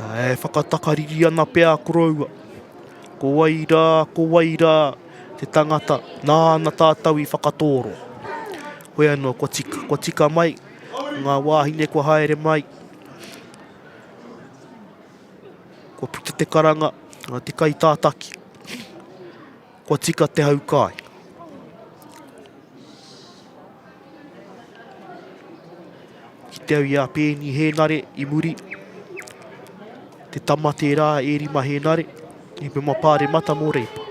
E whakatakariri ana pea koroua. Ko wai rā, ko wai rā te tangata nāna tātou i whakatōro. Hoi anō, kua tika, kua tika mai ngā wāhine kua haere mai. Kua puta te karanga, te kai tātaki. Kua tika te hau kai. Ki te au i a Pēni Hēnare i muri. Te tama tērā e Rima Hēnare, i Pema Pāremata mō Reipa.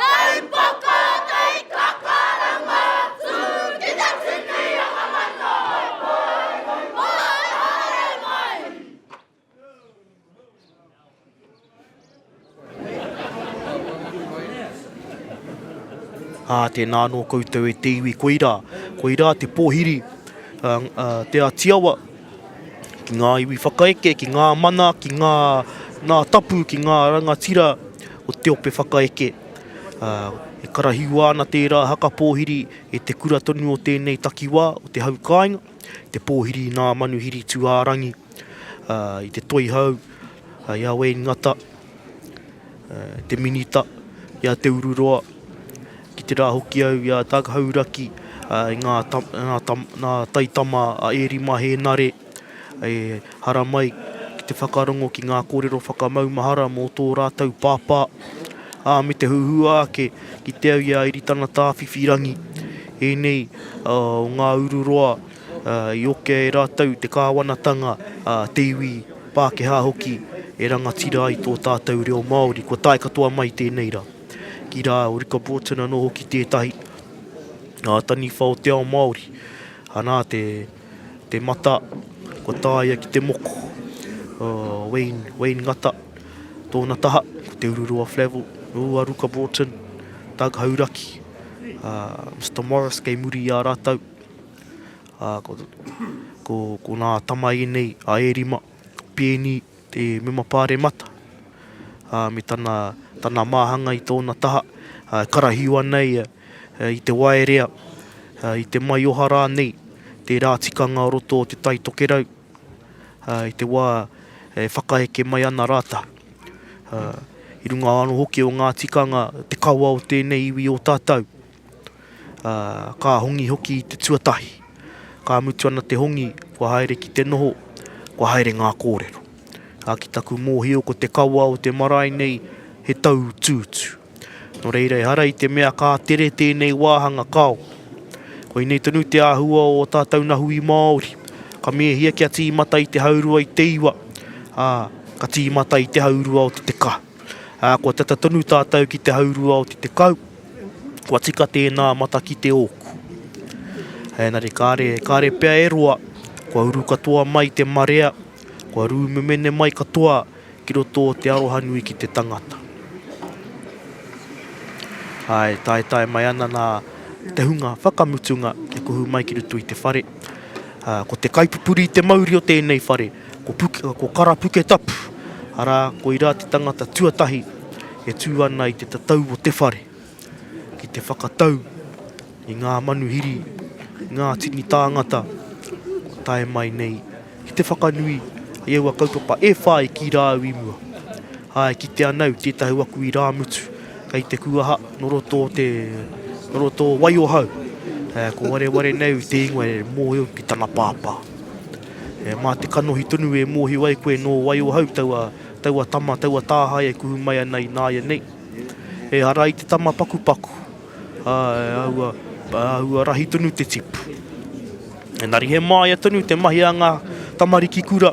Taupoko Tei Kakarama Tū ki te tipi o ngā matapae Moe haere mai Ā, tēnā anō koutou e te iwi koirā, koirā te pōhiri, ā, ā, Te Ātiawa. ki ngā iwi whakaeke, ki ngā mana, ki ngā, ngā tapu, ki ngā rangatira o te ope whakaeke. E karahiua ana tērā haka pōhiri e te kura tonu o tēnei takiwā, o te hau kāinga, te pōhiri i nā manuhiri tūārangi, i te toihau, i a Wayne Ngata, te Minita, i a Te Ururoa, ki te rā hoki au i a Doug Hauraki, i ngā, ngā, ngā taitama a Eri Mahenare, e haramai ki te whakarongo ki ngā kōrero whakamaumahara mō tō rātou pāpā, ā, me te huhua ake ki te au i a Eri Tangata Whiwhirangi, ēnei o ngā ururoa I okea e rātou te kāwanatanga, te iwi, Pākehā hoki, e rangatira ai tō tātou reo Māori. Kua tae katoa mai tēnei rā. Ki rā o Ricker Broughton anō hoki tētahi, ngā taniwha o te ao Māori. Anā te mata, kua tāia ki te moko. Wayne Ngata, tōna taha, ko Te Ururoa Flavell, nō a Ruka Broughton, Doug Hauraki, Mister Morris kei muri i a rātou. Ā, ko, ko, ko nā tamae nei, a e rima, pēni te mema pāremata, ā, me tana, tana māhanga i tōna taha, ā, e karahio ana ia i te waerea, ā, i te maioha rānei, tērā tikanga o roto o Te Tai Tokerau, ā, i te wā e whakaheke mai ana rātau. Ā, i runga anō hoki o ngā tikanga, te kawa o tēnei iwi o tātau. ā, ka hongi hoki i te tuatahi. Ka mutu ana te hongi, kua haere ki te noho, kua haere ngā kōrero. Ā, ki taku mōhio ko te kawa o te marae nei he tauutuutu. Nō reira, ehara i te mea ka tere tēnei wāhanga kao. Koinei tonu te āhua o ō tātou nahui Māori. Ka mēhia kia tīmata i te haurua i te iwa, ā, ka tīmata i te haurua o te tekau. Ā, kua tata tonu tātou ki te haurua o te tekau, kua tika tēnā matakite ōku. Ēnari kāre, kāre pea e roa, kua uru katoa mai te marea, kua rūmemene mai katoa ki roto o te arohanui ki te tangata. Ai, taetae mai ana nā te hunga whakamutunga e kuhu mai ki roto i te whare. Ko te kaipupuri i te mauri o tēnei whare, Ko, ko Karapuketapu, arā, koirā te tangata tuatahi e tū ana i te tatau o te whare, ki te whakatau i ngā manuhiri, ngā tini tāngata kua tae mai nei ki te whakanui i aua kaupapa e whā i kī rāu i mua. Āe, kitea nau tētahi o aku irāmutu kei te kuaha nō roto o te, nō roto o Waiohau, ko wareware nau te ingoa e mōhio ki tana pāpā. E, mā te kanohi tonu e mōhio ai koe nō wai ohau taua, taua tama, taua tāhae e kuhu mai ana i nāianei. Ehara i te tama pakupaku, ā, e āhua, e āhua rahi tonu te tipu. Engari he māia tonu te mahi a ngā tamariki kura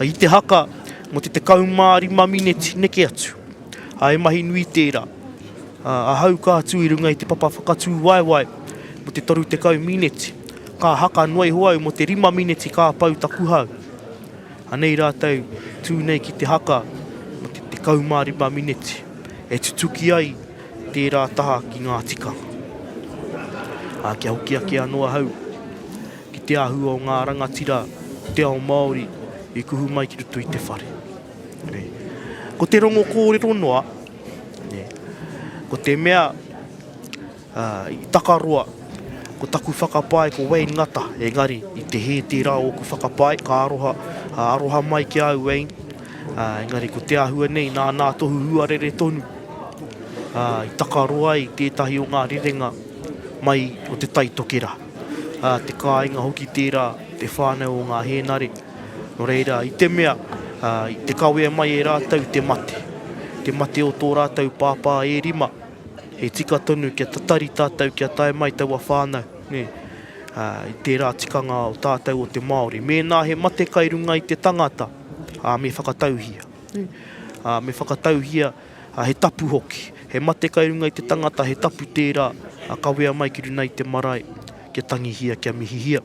i te haka mō te 15 mineti neke atu. Ā, he mahi nui tērā. Ā, ahau ka tū i runga i te papa whakatū waewae mō te 30 mineti, ka haka noa iho au mō te rima mineti ka pau taku hau. Anei rātou tū nei ki te haka mō te 15 mineti, e tutuki ai tērā taha ki ngā tikanga. Ā, kia hoki ake anō ahau ki te āhua o ngā rangatira o te ao Māori i kuhu mai ki roto i te whare. Ko te rongo kōrero noa, ko te mea i takaroa, ko taku whakapae ko Wayne Ngata, engari i te hē tērā ōku whakapae, ka aroha, aroha mai ki a au Wayne, engari ko te āhua nei nā nā tohu huarere tonu i takaroa ai tētahi o ngā rerenga mai o te taitokerā. Te kāinga hoki tērā, te whānau o ngā hēnare. Nō reira, i te mea, i te kawea mai e rātou te mate, te mate o tō rātou pāpā e rima, he tika tonu kia tatari tātou kia tae mai taua whānau, nē, i tērā tikanga o tātou o te Māori. Mēnā he mate kai runga i te tangata, me whakatauhia. Me whakatauhia, he tapu hoki. He mate kai runga i te tangata, he tapu tērā, kawea mai ki runei te marae, kia tangihia, kia mihihia.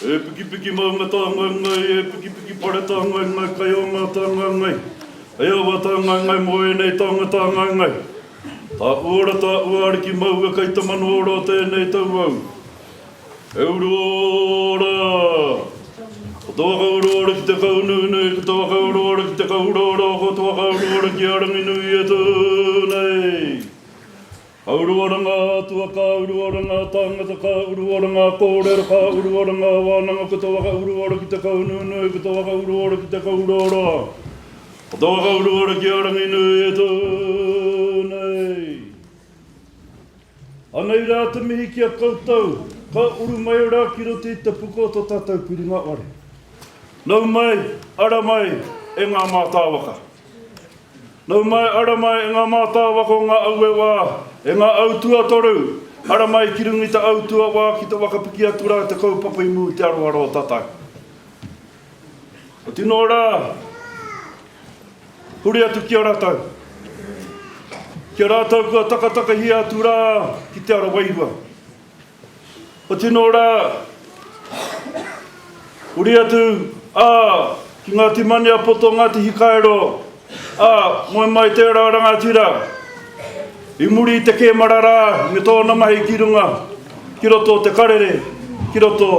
E pikipiki maunga tāngaengae, e pikipiki pare tāngaengae, kai o ngā tāngaengae, kai o ngā tāngaengae mō ēnei taonga tāngaengae. Tā uora, tā ua ariki maua kai te mano ora o tēnei tau au. E uru ora! Ko te waka uru ora ki te kau nunui, ko te waka uru ora ki te kau uraura, ko te waka uru ora ki a Ranginui e tū nei! Ka uru ora ngā atua, ka uru ora ngā tāngata, ka uru ora ngā kōrero, ka uru ora ngā wānanga ko te whakauru ora ki te kaunuunui, ko te whakauru ora ki te kauroaroa, ko te whakauru ora ki a Ranginui e tū nei. Anei rā te mihi ki a koutou, ka uru mai ora ki roto i te puka o to tātou piringa ware. Nau mai, ara mai e ngā mātāwaka. Nau mai, ara mai e nga mātāwaka o nga aue wā, e nga au tuatoru, ara mai ki runga i ta au tua wā ki te wakapiki atu ra te kaupapa i mū te aroaro o tatau. Ko tino ra, huri atu ki a ratau, ki a rātou kua takatakahia atu ra ki te ara wairua. Kua tino rā, huri atu, ā, ki Ngāti Maniapoto, Ngāti Hikairo, ā, moe mai tērā rangatira, i muri i te kēmara rā me tōna mahi ki runga, ki roto o te karere, ki roto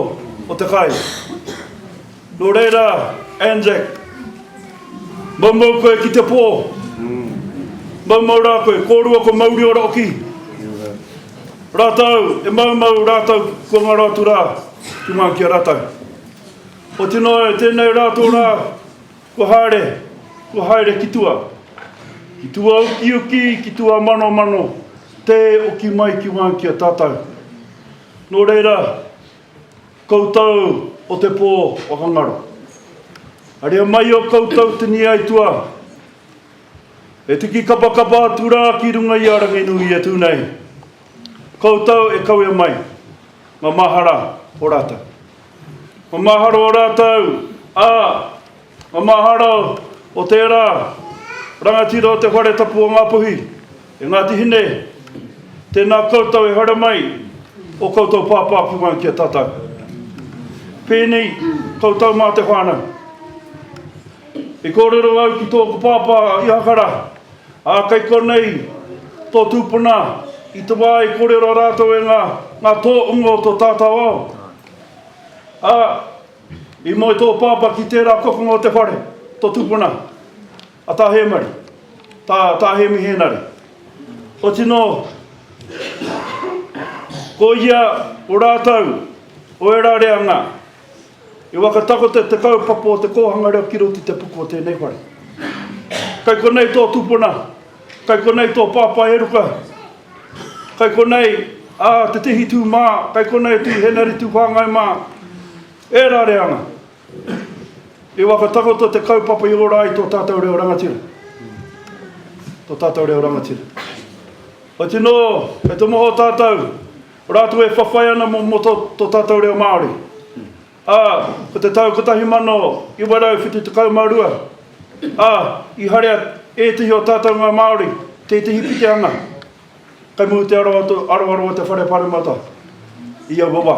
o te kai. Nō reira, Anzac, maumau koe ki te pō. Maumau rā koe, kōrua ko Mauriora oki. Rātou e maumau rātou kua ngaro atu rā ki ngā ki a rātou. Oti noa, tēnei rā tō rā kua haere, kua haere ki tua. Ki tua ukiuki, ki tua manomano, tē oki mai ki ngā ki a tātou. Nō reira, Koutou o te pō whakangaro. Haria mai o koutou tini aituā. E tiki kapakapa atu rā ki runga i a Ranginui e tū nei. Koutou e kawea mai ngā mahara o rātou. Ngā mahara o rātou, ā, Ngā mahara o tērā rangatira o te Whare Tapu o Ngāpuhi, e Ngāti Hine, tēnā koutou e haere mai o koutou pāpāpunga ki a tātou. Pēnei koutou mā te whānau. I kōrero au ki tōku pāpā a Ihakara, ā, kei konei tō tūpuna i te wā i kōrero rātou e ngā, ngā tōunga o tō tātou ao. Ā. I moe tō pāpā ki tērā kokonga o te whare, tō tupuna, a Tā Hēmari, tā, tā Hēmi Hēnare. Ko tino, ko ia o rātou, o ērā reanga, i whakatakoto te kaupapa o te kōhanga reo ki roto i te puku o tēnei whare. Kei konei tō tupuna, kei konei tō pāpā e ruka, Kai konei a Te Tihi tū mā, kai konei tū Henari tū Whāngai mā. E rare ana. I whakatakoto te kaupapa i ora ai tō tātou reo rangatira. Tō tātou reo rangatira. O tino, e tomoho tātou, rātou e whawhai ana mō, mō tō, tō tātou reo Māori. Ā, ko te tau 1972, ā, i haria ētehi o tātou ngā Māori i tētehi pitihana kei muri te aroaro o te Whare Pāremata i aua wā.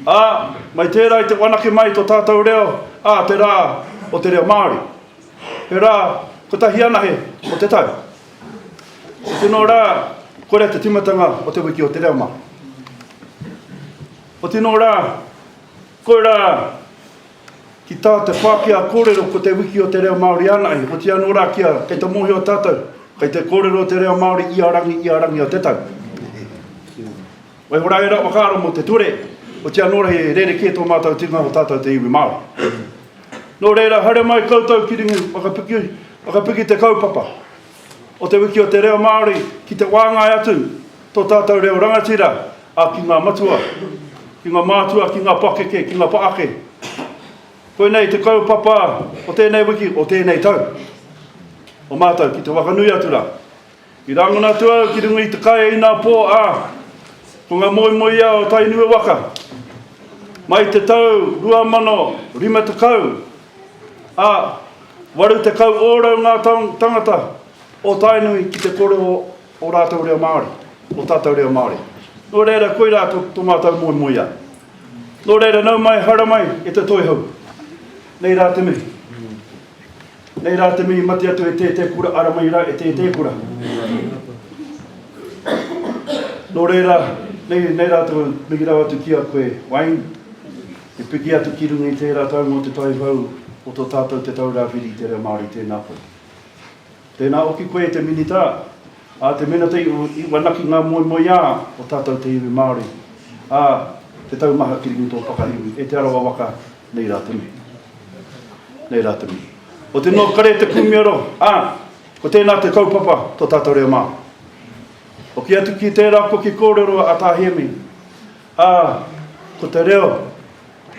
Ā, mai tērā i te whanake mai i tō tātou reo, ā, te rā o te reo Māori. He rā kotahi anahe o te tau. He tino rā korea te tīmatanga o Te Wiki o te Reo Māori. Ko tino ra, koira ki ta te Pakea korero ko te wiki o te reo Maori anahe, otia no ra kia kei te mohio tatou kei te korero te reo Maori ia rangi ia rangi o te tau. Waihora era whakaaro mo te ture, otia no ra he rereke to matou tinga o tatou te iwi Maori. No rera haere mai koutou ki ringa whakapiki, whakapiki te kaupapa. o Te Wiki o te Reo Māori ki te wāngai atu tō tātou reo rangatira, ā, ki ngā matua, ki ngā mātua, ki ngā pakeke, ki ngā whaake. Koinei te kaupapa o tēnei wiki, o tēnei tau, o mātou ki te whakanui atu rā. I rangona atu au ki runga i te kai inā pō, ā, ko ngā moemoeā o Tainui waka. Mai te tau 2050, Ā, waru tekau ōrau ngā tāngata o Tainui ki te kore o ō rātou reo Māori, ō tātou reo Māori. Nō reira, koirā tō mātou moemoeā. Nō reira, nau mai, haramai e te Toihau. Nei rā te mihi. Nei rā te mihi mate atu e tētē kura, aramai rā e tētē kura. Nō reira, nei, nei rā te mihi rawa atu ki a koe, Wayne. Te piki atu ki runga i tērā tau mō te Tauhou o tō tātou Te Taura Whiri i te Reo Māori, tēnā koe. Tēnā hoki koe e te Minita, ā, te Minita i whanaki ngā moemoeā o tātou te iwi Māori, ā, te taumaha ki runga i tō whakaiwi, e Te Arawa waka, nei rā te mihi. Nei rā te mihi. Ko te North Kare te kūmiaro, ā, ko tēnā te kaupapa tō tātou reo Māori. Hoki atu ki tērā koki kōrero a Tā Hēmi, Ā, ko te reo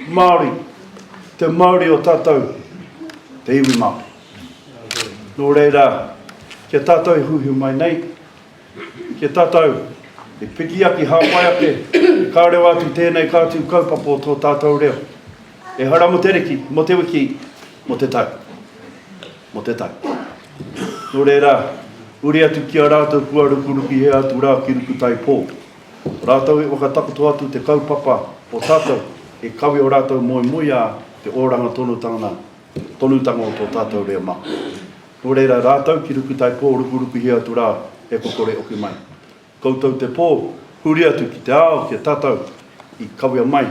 Māori, te mauri o tātou, te iwi Māori. Nō reira, ki a tātou e huihui mai nei, ki a tātou e piki ake, hāpai ake, ka reo atu tēnei kāti kaupapa o tō tātou reo. Ehara mō te riki, mō te wiki, mō te tau. Mō te tau. Nō reira, uri atu ki a rātou kua rukuruki hē atu rā ki Rukutaipō. Rātou e whakatakoto atu te kaupapa o tātou e kawe o rātou moemoeā te oranga tonutanga tonutanga o tō tātou reo mā. Nō reira rātou ki Rukutaipō rukurukuhia atu rā e kokore oki mai. Koutou te pō huri atu ki te ao kia tātou i kawea mai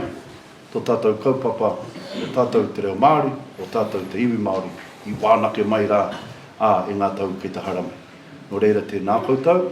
tō tātou kaupapa o tātou te reo Māori, o tātou te iwi Māori i wānake mai rā ā e ngā tau kei te haramai. Nō reira tēnā koutou.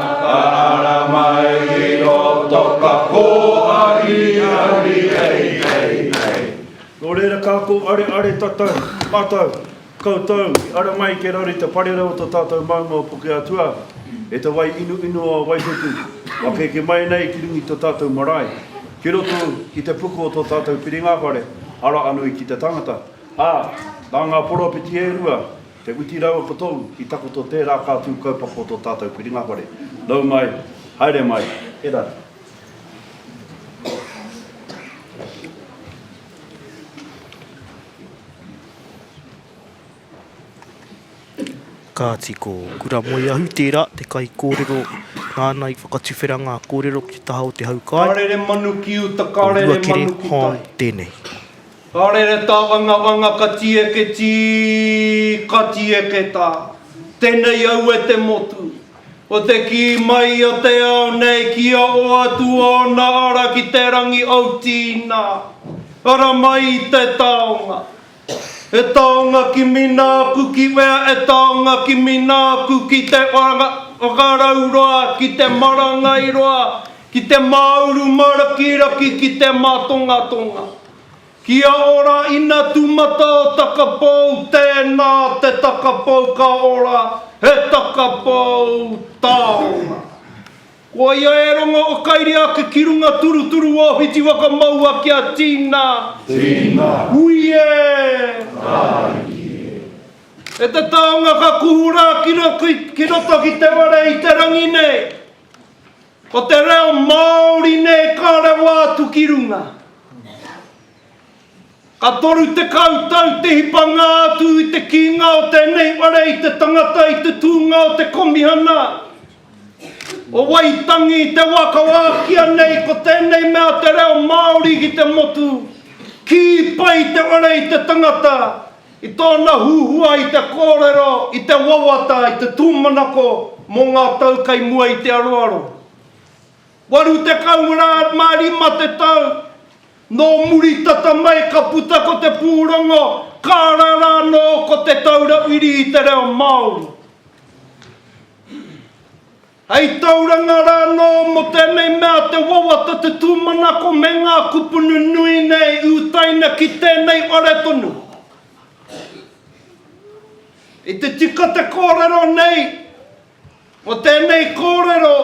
Ara mai i roto ka kōhari ahi hei hei hei. Nō reira ka kōareare tatau, matau, koutou i ara mai ke raru i te parera o to tātou maunga o Pukeatua e te wai inu inu o Waihuku kua keke mai nei ki rungi to tātou marae ki roto i te puku o to tātou Whiringawhare ara anui ki te tangata a, na nga poropiti e rua Te uti rau ako tōu, i takoto tērā kātū kaupapa o tō tātou piringa whare. Nau mai, haere mai, era! Kāti, ko Kura Moeahu tērā, te kaikōrero nāna i whakatuwhera ngā kōrero ki te taha o te hau kai. Ka rere manu ki uta, ka rere manu ki tai. Ko Ruakere Hong tēnei. Ka rere tā Angawanga ka tieke tī, ka tieke tā. Tenei au e te motu. Ko te kī mai a te ao nei kia oa atu ōna ara ki te rangi au tīnā. Ara mai i te taonga. He taonga kimi nāku ki wea e taonga kimi nāku ki te whakarau roa, ki te marangai roa, Ki te māuru mārakiraki ki te mātongatonga. Kia ora ina tūmata o takapou tēnā te takapou ka ora he takapou taonga. Koia e rongo o kairi ake ki runga turuturu o whiti whakamaua kia tina. Tina. Hui e! Taiki e! E te taonga ka kuhu rā ki roto ki te ware i te rangi nei. Ko te reo Māori nei ka rawa atu ki runga. Ka toru tekau tau te hipanga atu i te kīnga o tēnei whare i te tangata i te tūnga o te Komihana o Waitangi i te wā ka wākia nei ko tēnei mea te reo Māori ki te motu, kī pai te whare i te tangata. I tōna huhua i te kōrero i te wawata i te tūmanako mō ngā tau kei mua i te aroaro. Waru tekau rā mā rima te tau, nō muri tata mai ka puta ko te pūrongo Kaara rā nō ko Te Taura Wiri i te Reo Māori. Hei tauranga rā anō mō tēnei mea te wawata te tūmanako me ngā kupunu nui nei i utaina ki tēnei whare tonu. I te tika te kōrero nei, mō tēnei kōrero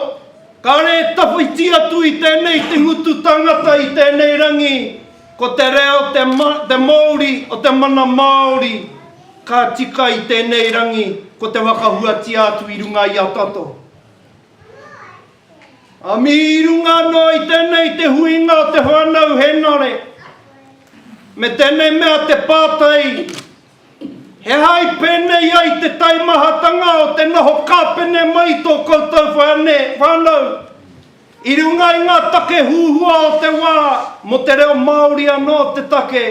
kāre e tawhiti atu i tēnei te ngutu tangata i tēnei rangi Ko te reo te mouri o te mana Māori ka tika i tēnei rangi ko te whakahuatia atu i runga i a tato. Ami i runga noa i tēnei te huinga o te whanau henare me tēnei mea te pātai He aha i pēnei ai te taimahatanga o te noho kāpene mai i tō koutou whānau i runga i ngā take huhua o te wā mō te reo Māori anō te take?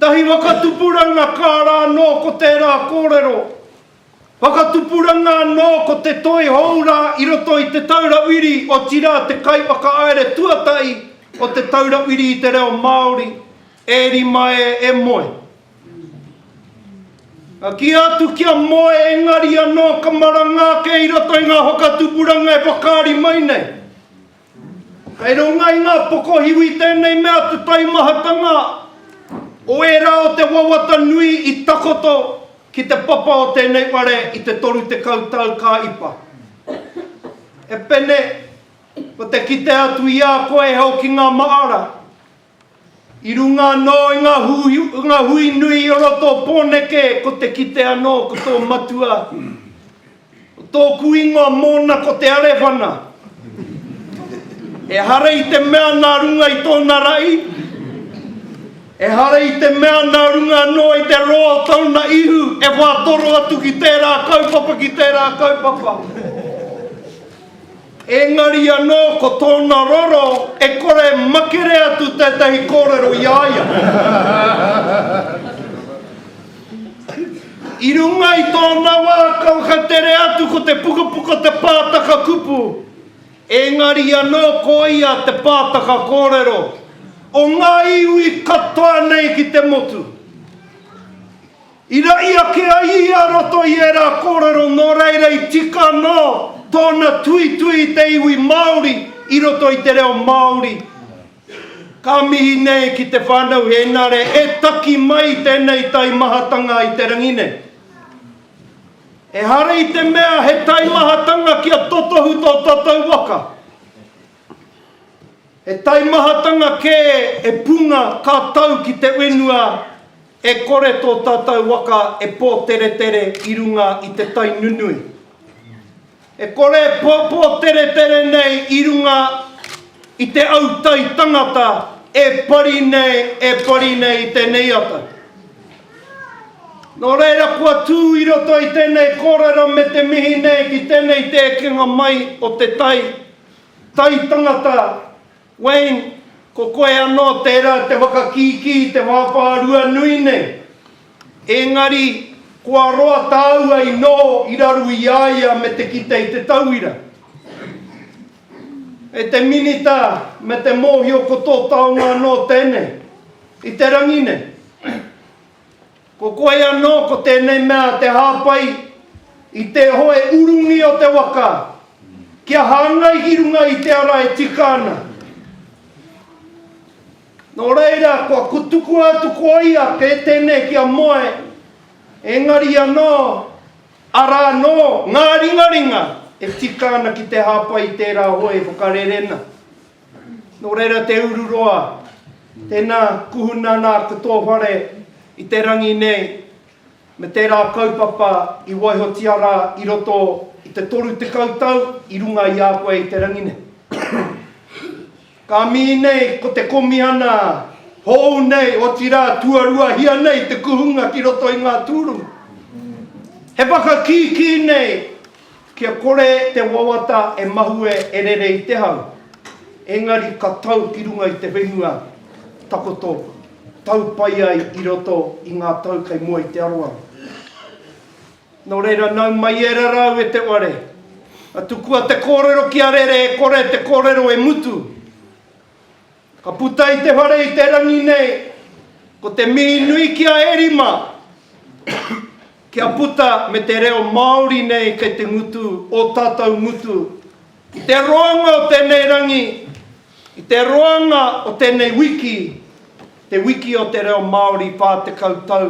Tahi whakatupuranga kā rā anō ko tērā kōrero. Whakatupuranga anō ko te toi hou rā i roto i Te Taura Whiri, otirā te kaiwhakahaere tuatahi o Te Taura Whiri i te Reo Māori, e rima e, e moe. Ka kīa atu kia moe engari anō ka maranga ake i roto i ngā whakatupuranga e whakaari mai nei. Kei runga i ngā pokohiwi tēnei mea te taimahatanga o ērā o te wawata nui i takoto ki te papa o tēnei whare i te 30 tau ka ipa. E Pene, ko te kite atu i a koe e hoki ngā maara, I runga anō i ngā hui nui o roto o Pōneke ko te kite anō ko tō matua, ko tōku ingoa mōna ko Te Arewhana. Ehara i te mea nā runga i tōna rahi, ehara i te mea nā runga anō i te roa o tōna ihu e whātoro atu ki tērā kaupapa, ki tērā kaupapa. Engari anō ko tōna roro e kore makere atu tētahi kōrero i a ia. I runga i tōna wā ka whakatere atu ko te pukapuka te pātaka kupu, engari anō ko ia te pātaka kōrero o ngā iwi katoa nei ki te motu. I rahi ake ai ia roto i ērā kōrero nō reira i tika anō tōna tuitui i te iwi Māori i roto i te reo Māori. Ka mihi nei ki te whānau Hēnare e taki mai i tēnei taimahatanga i te rangi nei. Ehara i te mea he taimahatanga kia totohu tō tātou waka. He taimahatanga kē e punga ka tau ki te whenua e kore tō tātou waka e pōteretere i runga i te tai nunui. E kore e pōteretere nei i runga i te autai tangata e pari nei, e pari nei i tēnei ata. Nō reira kua tū i roto i tēnei kōrero me te mihi nei ki tēnei te ekenga mai o te tai, Tai Tangata, Wayne, ko koe anō tērā te whakakīkī i te wāwhārua nui nei. Ēngari, kua roa tāua i noho i raru i a ia me te kite i te tauira. E te Minita, me te mōhio ko tō taonga anō tēnei, i te rangi nei. Ko koe anō ko tēnei mea te hāpai i te hoe urungi o te waka kia hāngai ki runga i te ara e tika ana. Nō reira, kua kutukua atu ko ia kē tēnei ki a Moe, engari anō, arā anō ngā ringaringa e tika ana ki te hāpai i tērā hoe whakarerena. Nō reira te uru roa, tēnā kuhuna nā ko tō whare i te rangi nei me tērā kaupapa i waihotia rā i roto i te 30 tau i runga i a koe i te rangi nei. Ka mihi nei ko te Komihana hou nei, otirā tuaruahia nei te kuhunga ki roto i ngā tūrunga. He whakakīkī nei. Kia kore te wawata e mahue e rere i te hau, engari ka tau ki runga i te whenua takoto, tau pai ai i roto i ngā tau kei mua i te aroaro. Nō reira, nau mai e rarau e te ware, a tukua te kōrero ki a rere e kore te kōrero e mutu. Ka puta i te whare i te rangi nei, ko te mihi nui ki a Erima kia puta me te reo Māori nei kei te ngutu ō tātou ngutu i te roanga o tēnei rangi, i te roanga o tēnei wiki, te wiki o te reo Māori 40 tau.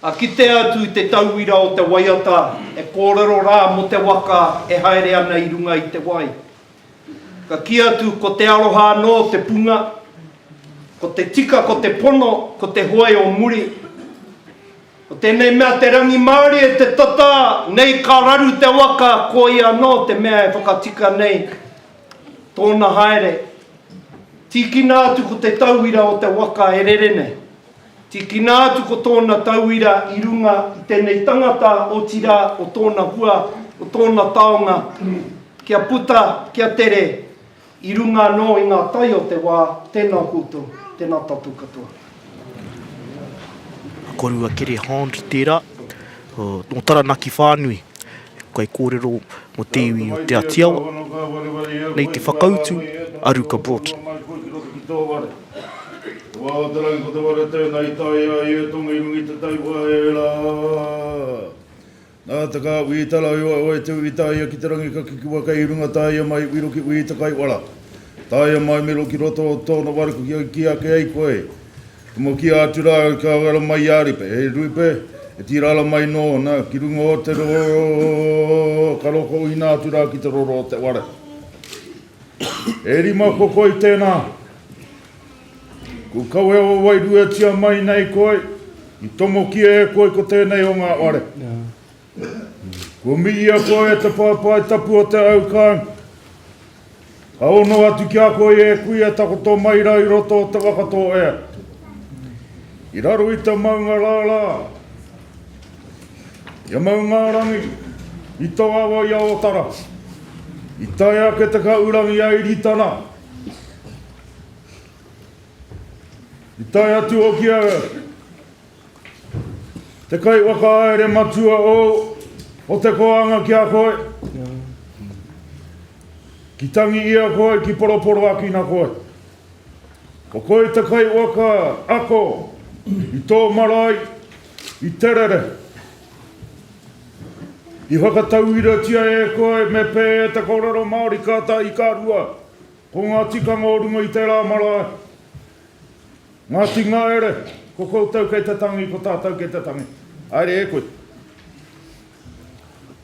Ka kitea atu te tauira o te waiata e kōrero rā mō te waka e haere ana i runga i te wai. Ka kī atu ko te aroha anō te punga, ko te tika ko te pono, ko te hoe o muri. Ko tēnei mea te rangimārie, te tata, nei ka raru te waka, koia anō te mea e whakatika nei tōna haere. Tīkina atu ko te tauira o te waka e rere nei. Tīkina atu ko tōna tauira i runga i tēnei tangata, otirā, o tōna hua, o tōna taonga, kia puta, kia tere, i runga anō i ngā tai o te wā, tēnā koutou, tēnā tātou katoa. A Korua Kerre Hond tērā, nō Taranaki whānui, kei kōrero mō te iwi o Te Atiawa, nei te whakautu a Ruka Broughton. Wā o te rangi ko te wā rau tēnā i tae ai e Tonga i runga i te tai whaera. Nā te kā wī tara i waewae te wī taia ki te rangi ka kikiwa kei runga taia mai wiro ki wī te kaiwara. Taia mai miro ki roto o tōna ware ko kia kī ake ai koe He mo kī atu rā ka wera mai i a Ripe He Ripe e tira ara mai nōna ki runga o te roro ka roko uina atu rā ki te roro o te ware. E rima ko koi tena. Ku kawea o wairuetia mai nei koi, i tomokia e koi ko tenei o nga ware. Ku miia koi e te paepae tapu o te aukang. Ka ono atu ki a koi e kui e takoto mai ra i roto o te waka to ea. I raro i te maunga la la. I a Maungārangi, i tō awa i a Ōtara, i tae ake te kaurangi a Iritana, i tae atu hoki a te kai whakaere matua o, o te koanga ki a koe, ki tangi i a koe, ki poroporoakina koe. Ko koe te kaiwaka ako i tō marae i te rere. I whakatauiratia e koe me pē te kōrero Māori kāta i ka rua ko ngā tikanga o runga i tērā marae. Ngāti Ngaere, ko koutou kei te tangi, ko tātou kei te tangi. Haere e koe.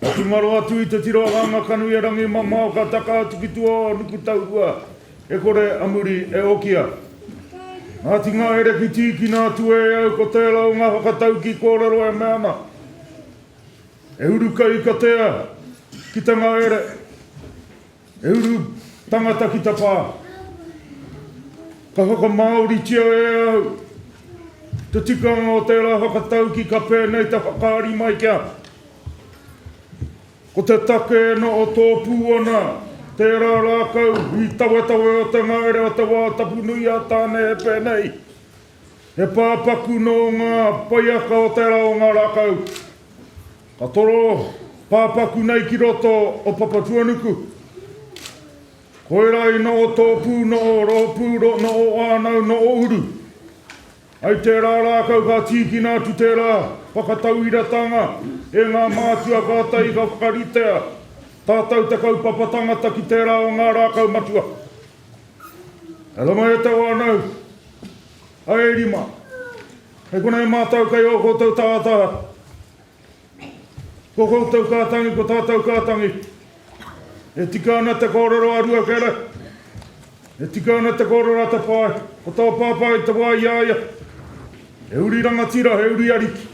Ka tūngaro atu i te tiro a Ngāngakanuiarangi mamao ka taka atu ki tua o Nukutaurua e kore a muri e okia. Ngāti Ngahere ki tīkina atu e au ko tērā o ngā whakatauki kōrero e mea ana e uru kai ka tea ki te ngahere. He uru tangata ki ta pa. Ka whakamāoritia e au te tikanga o tērā whakatauki ka pēnei te whakaari mai kia. Ko te take ena o tōpū ana tērā rākau i tawetawe o te ngahere o te wā tapu nui a Tāne he pēnei, he pāpaku nō ngā paiaka o tērā o ngā rākau. Ka toro pāpaku nei ki roto o Papatuanuku. Koirā i noho tō pū noho rōpū ro noho whānau noho uru. Hai tērā rākau ka tīkina atu tērā whakatauiratanga e ngā mātua kātahi ka whakaritea tātau te kaupapa tangata ki tērā o ngā rākau matua. E rima e te whānau, hai e rima. Hai konei mātau kei ō koutou tātā. Ko koutou ka tangi, ko tātou ka tangi. E tika ana te kōrero a Ruakere. E tika ana te kōrero a Tapae. Ko tō pāpā i te wā i a ia, he uri rangatira, he uri ariki.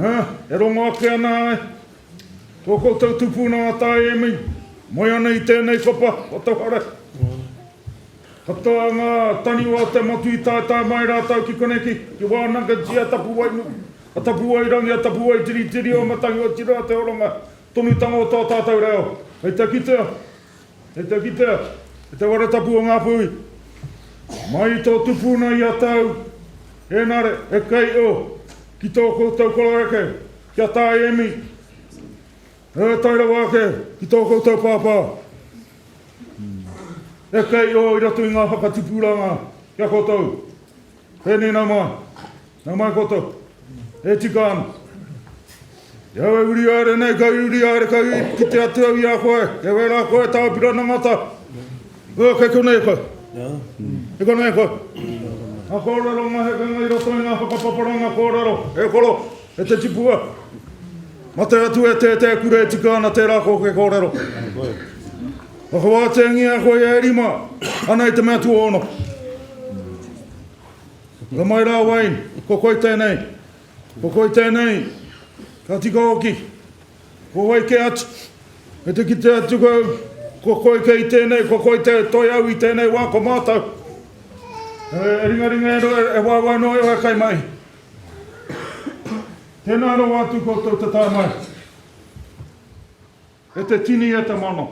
Ā, e rongo ake ana ai. Ko koutou tupuna a Taemi, moe ana i tēnei kopa o Tauhara. Katoa ngā taniwha o Te Motu i taetae mai rātou ki konei ki Wānanga Jia, Tapuwae nui, a Tapuwae rangi, a Tapuwae tiritiri, o Matahi Otirā, te horonga tonutanga o tō tātou reo. Hei te kitea, hei te kitea, i te wara tapu o ngā pui, mai i tō tupuna i a tau, ēnare, e kei o, ki tō koutou koroeke, ki a Tāe Emi, e tae rawa ake ki tō koutou pāpā. E kei ō i roto i ngā whakatupuranga ki a koutou. Pēnei nā mai, nā mai koutou, e tika ana. I au e uri aere nei, kei uri aere, kei kite atu au i a koe, kei wērā koe tā pira nangata. Ua kei konei koe. Kei konei koe. Ngā kōrero, ngā hekenga i roto i ngā whakapaparanga kōrero, e koro. E te tipua, mate atu e tētea kura e tika ana tērā kōke kōrero. Whakawāteangia a koe e rima, ana i te mea tuono. Ka mai rā Wayne, ko koe tēnei, ko koe tēnei, ka tika oki, ko wai ke atu, e te kite atu kau, ko koe kei tēnei, ko koe te toi au i tēnei wā, ko mātou. E ringaringa e, e wāwai noa e wai kai mai. Tēnā rawa atu koutou te tae mai. E te tini, e te mana.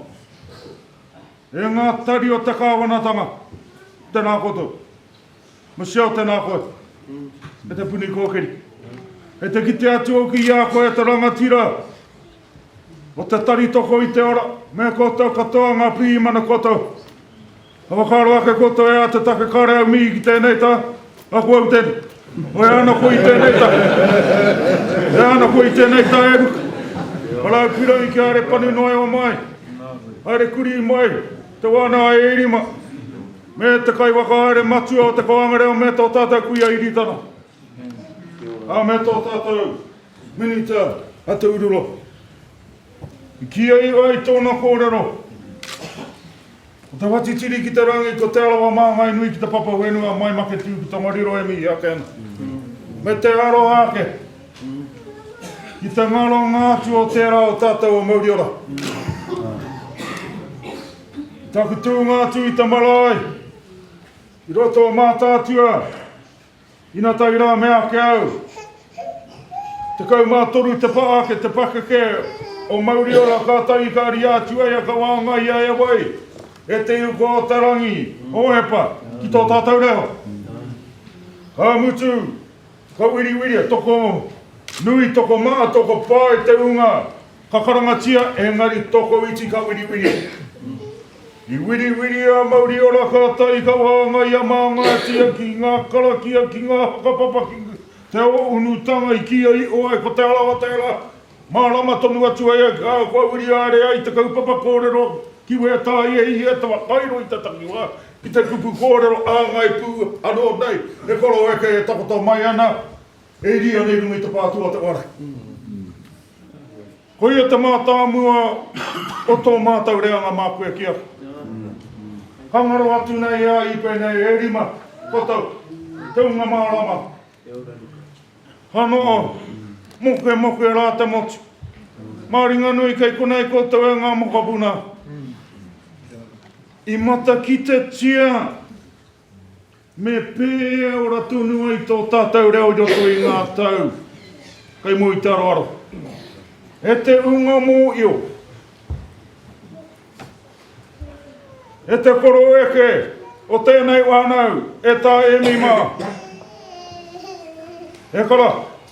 E ngā tari o te kāwanatanga, tēnā koutou. Michelle, tēnā koe. E te puni kōkiri. E te kite atu au ki a koe, e te rangatira. Ko te tari toko i te ora, me koutou katoa ngā pirīmana koutou. Ka whakaaro ake koutou e ā te take kāre au mihi ki tēnei tā, aku au tēnei. Oi ana koe i tēnei tā. E ana koe i tēnei tā e ruka. Arau pirangi kia haere panu noa e o mai. Haere kuri mai te wāna a Ērima. Me te kai whakahaere matua o te koanga reo me tō tātou kuia Iritana. Ā, me tō tātou. Minita Ataurua, i kī ai rā i tōna kōrero, Ko te whatitiri ki te rangi, ko Te Arawa māngai nui ki te papa whenua, mai make tū ki Tongariro e mihi ake ana. Me te aroha ake, ki te ngaronga atu o tērā o tātou o Mauriora. Taku tūnga atu i te marae, i roto o Mātaatua, Ina tae rā me ake au. Tekau mā toru te pā ake te pakeke o Mauriora kātahi ka ria atu ai a Kawaanga i a e wai, e te uko o te rangi, Hohepa, ki tō tātou reo. Ka mutu, ka wiriwiri, toko nui, toko maha, toko pae te unga. Ka karangatia e Ngari Tokoiti ka wiriwiri. I wiriwiri a Mauriora ka tae ka wāngai a Māngātia ki ngā karakia ki ngā whakapapa ki te ōunutanga i kīia iho ai ko Te Arawa tērā. Mārama tonu atu ai a Kaa kua wiri āre ai te kaupapa kōrero ki Wētāhi e hia te whakairo i te takiwā ki te kupu kōrero āngai pū anō nei he koroeke e takoto mai ana E ri anei runga i te pā tuatawa ara. Koia te mātāmua o tō mātou reanga mā koe ki aku. Ka ngaro atu nei e ai i pēnei e rima kotau te hunga mārama. Ka noho mokemoke rā te motu. Mā Ringanui kei konei koutou e ngā mokopuna. I matakitea. Me pēora tonu ai tō tātou reo i roto i ngā tau kei mua i te aroaro. E te unga mōio, e te koroeke o tēnei whānau, e Tā Emi mā, e kara,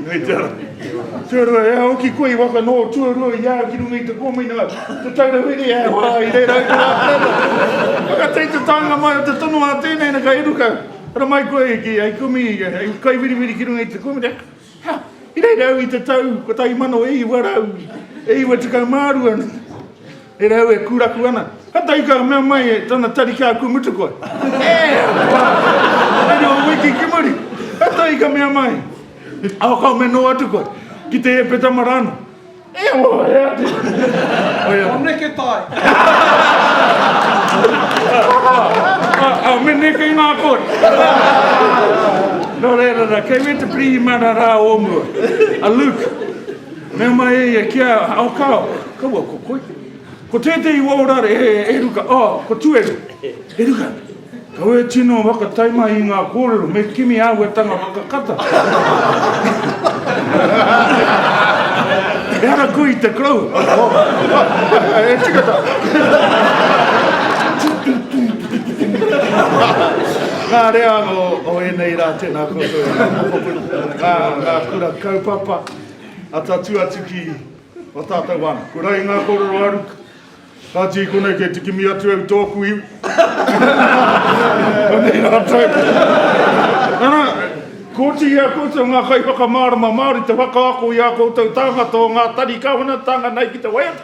Nei te ara. Tuarua, e au ki koe i waka nō tuarua i au ki runga i te kōmina, te taura wiri e hoa i reira i te rātana. Waka tei te tānga mai o te tono a tēnei na ka iruka, ara mai koe ki ai kumi, ai kai wiriwiri ki runga i te kōmina. Ha, i reira au i te tau, kotahi mano e iwa rau, e iwa tukau mārua. He rau e kūraku ana. Kātahi ka mea mai e tana tari kia aku mutu koe. E! He rua wiki ki muri. Kātahi ka mea mai, Aho kau me nō atu koe, ki te ēpeta mara anō. E awa wai e atu. Ko neke tae. A me neke ngā kore. Nō reira rā, kei wē te pirihimana rā o mua, a Luke. Mea mai e ia, Kia ao ka ao, kaua ko koe. Ko tētehi wao rare e, e ruka, oh, ko Tueru, e ruka. Kaua e tino whakataimahi i ngā kōrero, me kimi āhuatanga whakakata. e ara koe i te koroua. e tika tā. Ngā rea o, o ēnei rā, tēnā koutou. Ngā, ngā kura kaupapa. Atatū atu ki a tātou anō. Ko Rai ngā kōrero a Ruka. Kāti i konei kei te kimi atu au tōku iwi. Anei rātou. Ana, kōti i a koutou ngā kaiwhakamārama Māori te whakaako i ā koutou tāngata o ngā tari kāwanatanga nei ki te waiata.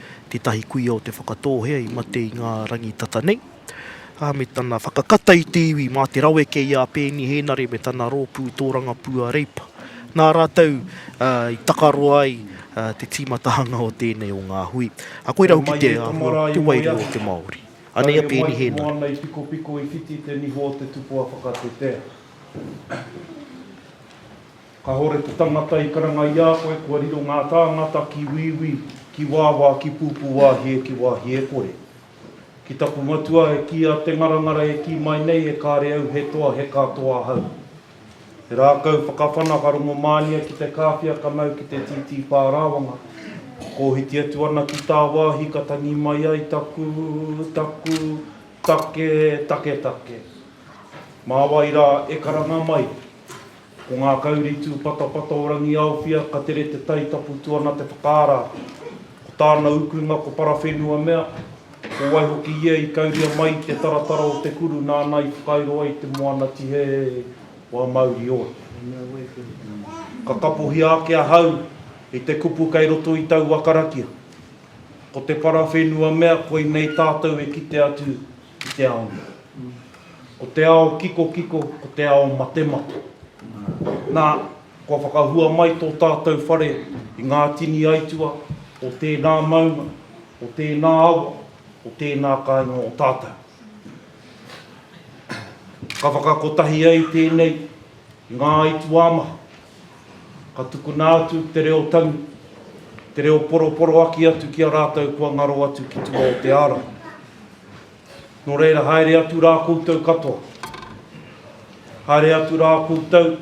tētahi kuia o Te Whakatōhea i mate i ngā rangi tata nei, ā, me tana whakakata i te iwi mā te raweke i a Peeni Hēnare me tana rōpū tōrangapū a Reipa. Nā rātou i takaro ai te tīmatahanga o tēnei o ngā hui. Ā, koirā hoki te āhua puwairua o te Māori. Anei a Peeni Hēnare. Kāore mai i moana i pikopiko i whiti te niho o te tupoa whakatetea. Kahore te tangata i karanga i a koe kua riro nga tāngata ki Wīwī, ki Wāwā, ki Pūpūwāhie, ki Wāhiekore. Ki taku matua e kī a Te Ngarangara e kī mai nei e kāre au he toa he katoa ahau. He rākau whakawhana ka rongomānia ki te kāwhia ka mau ki te tītī pārāwanga. Kōhiti atu ana ki tāwāhi ka tangi mai ai taku, taku, take, taketake. Mā wai rā e karanga mai? Ko ngā kauri tūpatapata o Rangiaowhia ka tere te tai tapu tu ana te whakaara. Ko tāna ukunga ko parawhenua mea, ko wai hoki ia i kauria mai i te taratara o te kuru nāna i whakairo ai te moana tihehe wā mauri ora. Ka kapohia ake ahau i te kupu kei roto i taua karakia. Ko te parawhenua mea koinei tātou e kite atu ki te ao nei. Ko te ao kikokiko, ko te ao matemate. Nā, kua whakahua mai tō tātou whare i ngā tini aituā o tēnā maunga, o tēnā awa, o tēnā kāinga o tātou. Ka whakakotahia i tēnei, i ngā aituā maha. Ka tukuna atu te reo tangi, te reo poroporoaki atu ki a rātou kua ngaro atu ki tua o te ārahi. Nō reira, haere atu rā koutou katoa. Haere atu rā koutou,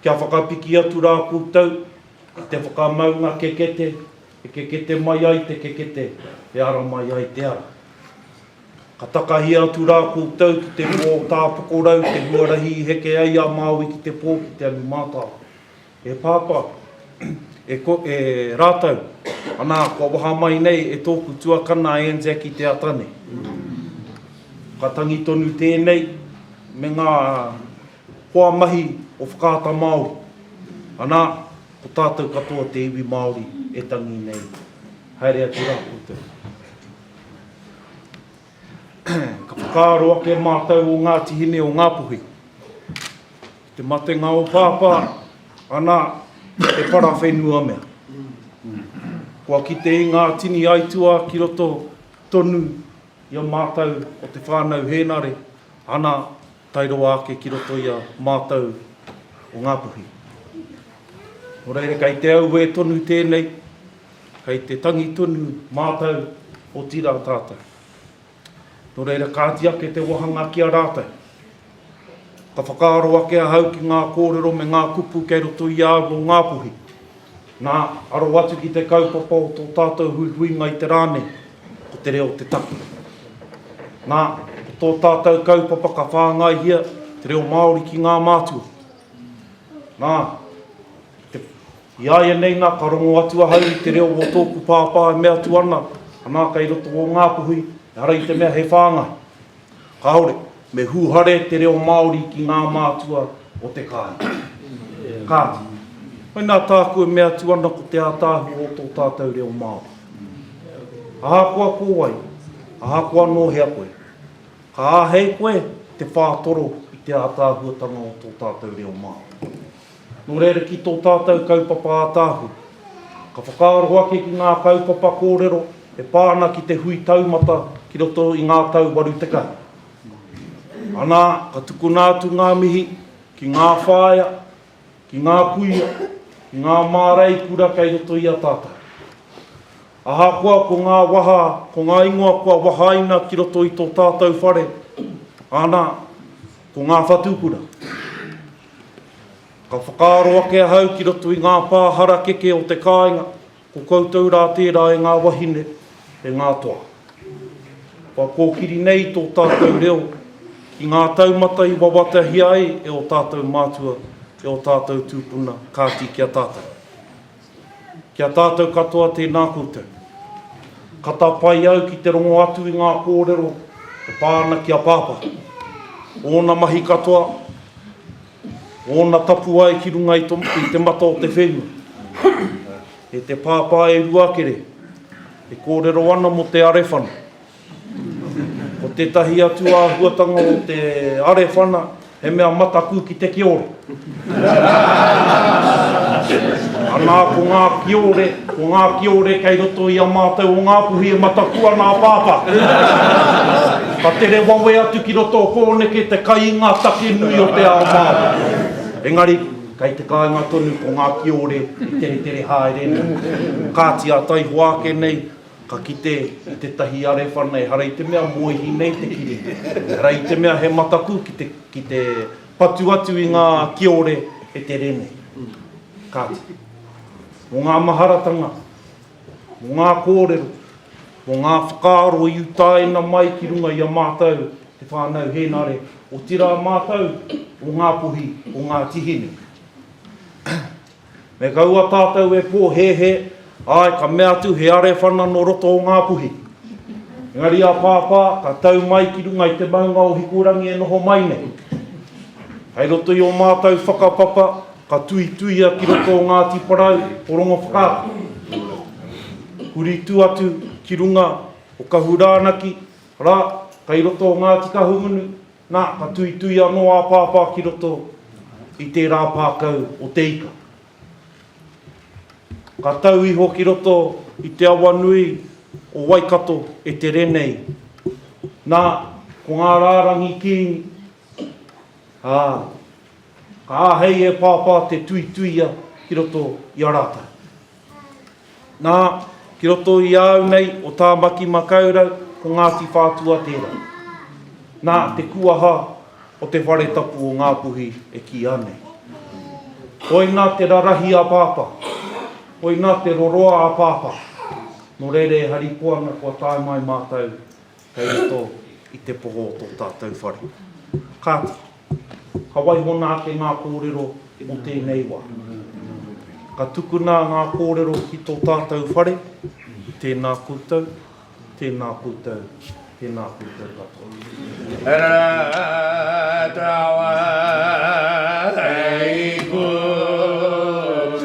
kia whakapiki atu rā koutou ki te whakamaunga kekete e kekete mai ai te kekete, e ara mai ai te ara. Ka takahia atu rā koutou ki te rua o Tātokorau, te huarahi i heke ai a Māui ki te pō ki te alu mātao. E Pāpā, e ko, e rātou, anā, kua waha mai nei e tōku tuakana a Anzac i te ata nei. Ka tangi tonu tēnei me ngā hoa mahi o Whakaata Māori. Anā, ko tātou katoa te iwi Māori e tangi nei. Haere atu rā koutou. Ka whakaaro ake mātou o Ngāti Hine o Ngāpuhi. Ki te matenga o Pāpā, ana, he parawhenua mea. Kua kite i ngā tini aituā ki roto tonu i a mātou o te whānau Hēnare, ana, tae roa ake ki roto i a mātou o Ngāpuhi. Nō reira, kei te auē tonu tēnei, kei te tangi tonu mātou, otirā tātou. Nō reira, kāti ake te wāhanga ki a rātou. Ka whakaaro ake ahau ki ngā kōrero me ngā kupu kei roto i a au o Ngāpuhi. Nā, aro atu ki te kaupapa o tō tātou huihuinga i te rā nei, ko te reo te take. Nā, ko tō tātou kaupapa ka whāngaihia te reo Māori ki ngā mātua. Nā, te, i āianei nā ka rongo atu ahau i te reo o tōku pāpā e mea atu ana, anā kei roto o Ngāpuhi, ehara i te mea he whāngai. Kāore, me hūhare te reo Māori ki ngā mātua o te kāinga. Kāti, mai nā tāku e mea atu ana ko te ātaahua o tō tātou reo Māori. Ahakoa ko wai, ahakoa nō hea koe, ka āhei koe te whātoro i te ātaahuatanga o tō tātou reo Māori. Nō reira ki tō tātou kaupapa ātaahu, ka whakaaro ake ki ngā kaupapa kōrero e pā ana ki te hui taumata ki roto i ngā tau 80. Anā, ka tukuna atu ngā mihi ki ngā whāea, ki ngā kuia, ki ngā mārei kura kei roto i a tātou. Ahakoa ko ngā waha, ko ngā ingoa kua wahaina ki roto i tō tātou whare, anā, Ko ngā whatukura. Ka whakaaro ake ahau ki roto i ngā pā harakeke o te kāinga, ko koutou rā tērā e ngā wahine, e ngā toa. Kua kōkiri nei tō tātou reo ki ngā taumata i wawatahia ai e ō tātou mātua, e ō tātou tūpuna, kāti ki a tātou. Ki a tātou katoa tēnā koutou. Ka tāpae au ki te rongo atu i ngā kōrero e pā ana ki a Pāpā. Ōna mahi katoa, ōna tapuwae ki runga i te mata o te whenua. E te Pāpā e Ruakere, e kōrero ana mō te Arewhana. Ko tētahi atu āhuatanga o te arewhana, he mea mataku ki te kiore. Anā, ko ngā kiore, ko ngā kiore kei roto i a mātou o Ngāpuhi e mataku ana a Pāpā. Ka tere wawe atu ki roto o Pōneke te kai i ngā take nui o te ao Māori. Engari, kei te kāinga tonu ko ngā kiore e teretere haere nei. Kāti ā taihoa ake nei, Ka kite i tetahi arefa nei, hara i te mea moehi nei te kiri, hara i te mea he mataku ki te, ki te patu atu i nga kiore e te re nei. Kati, mo nga maharatanga, mo nga korero, mo nga whakaaro i utaina mai ki runga i a matou te whanau Henare, otira matou o nga pohi o Ngati Hine. Me kaua tātou e pōhēhē, āe, ka mea atu he arewhana nō roto o Ngā Puhi. Engari a Pāpā, ka tau mai ki runga i te maunga o Hikurangi e noho mai nei. Kai roto i o mātou whakapapa, ka tuituia ki roto o Ngāti Porou, o Rongowhakaata. Huri tu atu ki runga o Kahurānaki, ra, kai roto o Ngāti Kahungunu, Nā, ka tuitui anō a Pāpā ki roto i tērā pākau o te ika. Ka tau iho ki roto i te awa nui o Waikato e tere nei. Nā, ko ngā rārangi Kīngi, ā, ka āhei e Pāpā te tuituia ki roto i a rātou. Nā, ki roto i a au nei o Tāmaki Makaurau, ko Ngāti Whātua tērā. Nā, te kuaha o te whare tapu o Ngāpuhi e kīa nei. Koina te rarahi a Pāpā, koina te roroa a Pāpā. Nō reira e harikoa ana kua tae mai mātou Kei roto i te poho o tō tātou whare. Kāti, ka waihona ake ngā kōrero o tēnei wā. Ka tukuna ngā kōrero ki tō tātou whare, tēnā koutou, tēnā koutou, tēnā koutou katoa.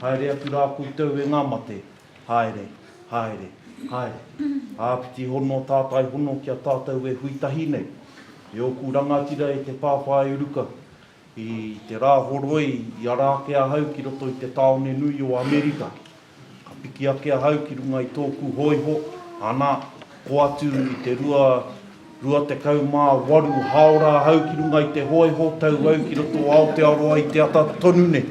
Haere atu rā koutou e ngā mate, haere, haere, haere. Āpiti hono tātai hono ki a tātou e hui tahi nei. E ōku rangatira e te pāpā e uruka. I te rā horoi i ara ake ahau ki roto i te tāone nui o Amerika. Ka piki ake ahau ki runga i tōku hōiho, ana, kō atu i te rua 28 haora ahau ki runga i te hoiho tau au ki roto o Aotearoa i te ata tonu nei.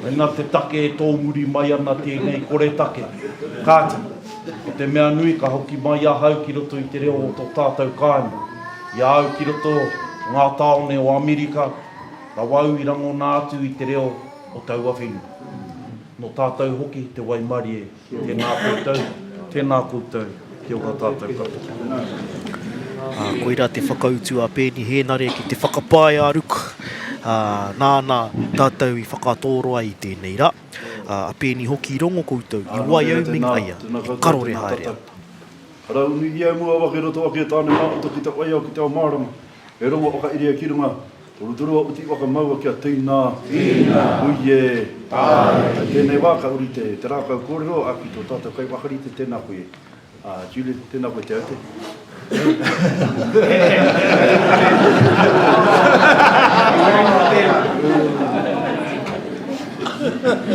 Koina te take e tōmuri mai ana tēnei koretake. Kāti, ko te mea nui ka hoki mai ahau ki roto i te reo o tō tātou kāinga. I a au ki roto o ngā tāone o Amerika, rawa au i rangona atu i te reo o taua whenua. Nō tātou hoki te waimarie. Tēnā koutou, tēnā koutou, kia ora tātou katoa. Koirā te whakautu a Peeni Hēnare ki te whakapae a Ruku, nāna tātou i whakatōro ai i tēnei rā. A Peeni hoki i rongo koutou, i waiau me ngaia, i karore haere ana. Arā, unuhia e mua waka i roto ake tāne Māroto ki te waiao ki te ao mārama, e rongo whakairi ai ki runga. Torutoru a Uti waka maua kia Tina. Tina. Huie. Tae. I tenei wa ka uri te te rakau korero a ki to tatou kai wakarite tena koe a Judith tena koe te aute. Thank you.